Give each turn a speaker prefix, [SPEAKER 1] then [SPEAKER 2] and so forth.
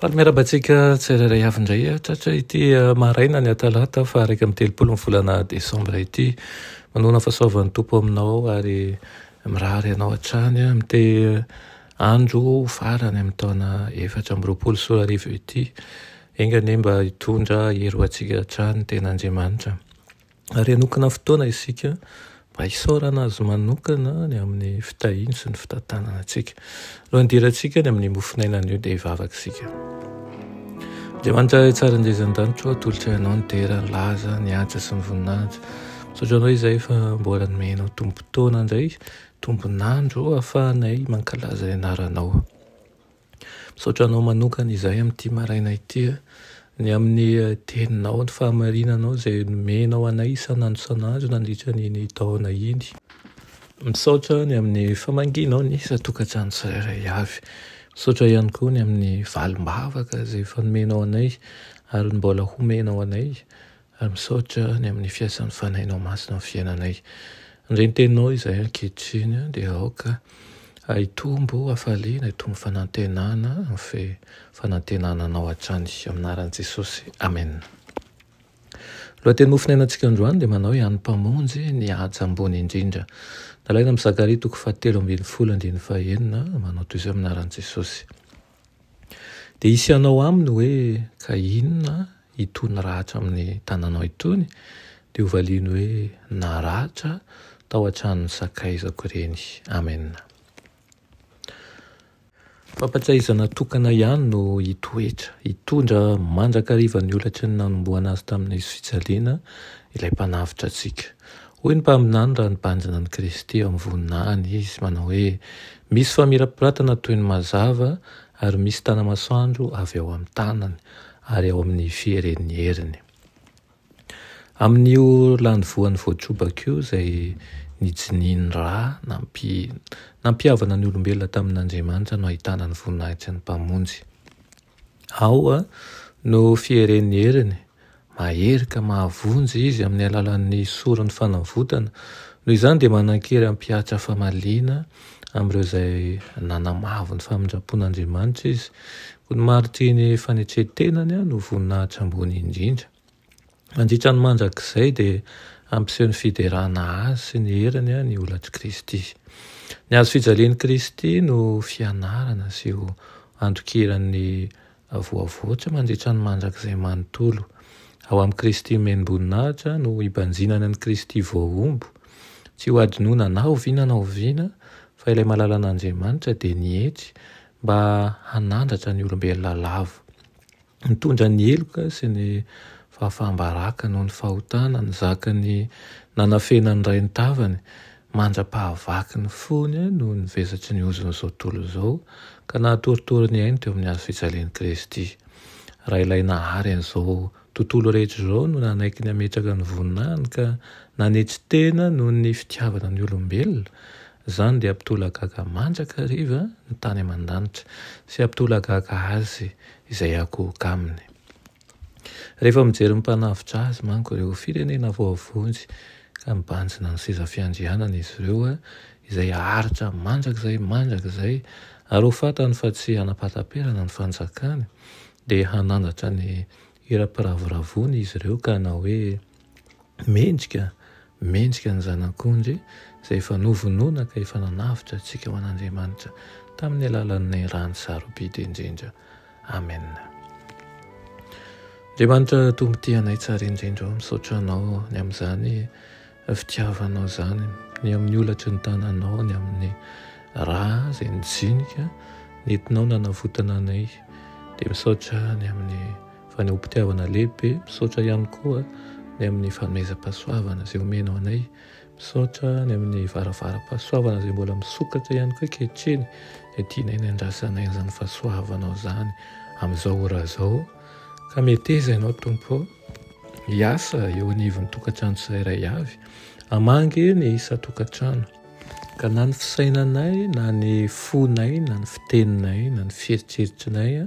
[SPEAKER 1] Faly miarahaba antsika tsirairay avy indray ah, tratra ity ah, maraina ny atalata fa iraika amin'ny telopolo ny volana desambra ity. Manoana fahasoavan'ny Tompo aminao ary mirary anao hatrany ah, mite ah, andro farany amin'ny taona efatra amby roapolo sy roa arivo ity. Enga anie mba hitondra hery ho antsika hatrany ny ten'Andriamanitra. ary hanokana fotoana isika mba hisaorana Azy manokana ny amin'ny fitahiany sy ny fitantanana antsika. Alohan'ny hidirantsika ny amin'ny mofon'aina anio dia hivavaka isika. Andriamanitra Ray tsara indray izan-danitra, atolotra ianao ny dera, ny laza, ny anja sy ny voninahitra. Misaotra anao izay fa mbola nomenao tombon-taona indray, tombon'andro ahafahanay mankalaza ny anaranao. Misaotra anao manokana izahay amin'ity maraina ity a, ny amin'ny teninao, ny fahamarinanao izay nomenao anay isan'andro isan'andro nandritra an'iny taona iny. Misaotra ny amin'ny famangianao ny isan-tokantrano tsirairay avy. Misaotra ihany koa ny amin'ny valim-bavaka izay efa nomenao anay ary ny mbola homenao anay. Ary misaotra ny amin'ny fiasan'ny Fanahinao Masina amin'ny fiainanay. Amin'izay ny Teninao izahay ankehitriny dia aoka hitombo hafaliana, hitombo fanantenana, fe fanantenana Anao hatrany. Amin'ny anaran'i Jesosy, Amen. Ny lohateny mofonainantsika androany dia manao hoe an'ny Mpamonjy ny haja ambony indrindra. Nalaina amin'i Zakaria toko fahatelo ambin'ny folo andininy fahenina, manao toy izao amin'ny anaran'i Jesosy. Dia hisy hanao aminy hoe, Ka inona itony ratra amin'ny tananao itony? Dia hovaliany hoe, Naratra tao an-tranon'ny sakaizako ireny. Amen. Fampatsiahizana tokana ihany no hitoetra, hitondra mandrakariva ny holatry ny nanomboana azy tamin'ny hazofijaliana ilay Mpanavotra antsika. Hoy ny mpaminany raha nibanjina an'i Kristy amin'ny voninahiny izy, manao hoe, Misy famirapiratana toy ny mazava ary misy tana-masoandro avy ao amin'ny tanany ary ao amin'ny fieren'ny heriny. Amin'io lany voany voatrobaka io izay nijiniany ra nampi, nampihavana ny olombelona tamin'Andriamanitra no ahitana ny voninahitry ny Mpamonjy. Ao no fieren'ny heriny, mahery ka mahavonjy Izy amin'ny alalan'ny soron'ny fanavotana. Noho izany dia manan-kery hampihatra famaliana amin'ireo izay nanamavo ny famindram-pon'Andriamanitra Izy. Koa ny maritriny fanetren-tenany no voninahitra ambony indrindra. Mandritra ny mandrakizay dia hampiseho ny fiderana Azy sy ny heriny ny holatr'i Kristy. Ny Hazo fijalian'i Kristy no fianarana sy ho andokiran'ny voavoatra mandritra ny mandrakizay manontolo. Ao amin'i Kristy omen'boninahitra no hibanjinana ny Kristy voahombo, tsy ho adinoina na oviana na oviana fa ilay malalan'Andriamanitra dia nietry mba hanandratra ny olombelona lavo. Nitondra ny heloka sy ny fahafaham-baraka noho ny fahotana nizaka ny nanafena ny ray ny tavany, mandra-pahavaky ny fony noho ny vesatry ny ozon'izao tontolo izao, ka nahatoritory ny ainy teo amin'ny hazo fijalian'i Kristy. Raha Ilay Nahary an'izao tontolo rehetra izao no nanaiky ny hametraka ny voninahiny ka nanetry tena noho ny fitiavana ny olombelona, Izany dia hampitolagaga mandrakariva ny tany aman-danitra sy hampitolagaga azy izay hakohoka aminy. Rehefa mijery ny mpanavotra azy manko ireo firenena voavonjy ka mibanjina ny seza fiandrianany izy ireo izay haharitra mandrakizay mandrakizay ary ho fantany fa tsy hanapataperana ny fanjakany dia hanandratra ny hira-piravoravoany izy ireo ka hanao hoe, Mendrika, mendrika ny Zanak'ondry izay efa novonoina ka efa nanavotra antsika ho an'Andriamanitra tamin'ny alalan'ny rany sarobidy indrindra. Amen. Andriamanitra Tompo tia anay tsara indrindra ô, misaotra Anao ny amin'izany fitiavanao izany, ny amin'ny olatry ny tananao, ny amin'ny rà izay nijinika nentinao nanavotana anay, dia misaotra ny amin'ny Fanehoam-pitiavana lehibe, misaotra ihany koa ny amin'ny fanomezam-pahasoavana izay omenao anay. Misaotra ny amin'ny varavaram-pahasoavana izay mbola misokatra ihany koa ankehitriny, dia tianay ny handrasanay an'izany fahasoavanao izany amin'izao ora izao. Ka meteza Ianao Tompo hiasa eo anivon'ny tokantrano tsirairay avy, hamangy ny isan-tokantrano, ka na ny fisainanay na ny fonay na ny fiteninay na ny fieritreritrinay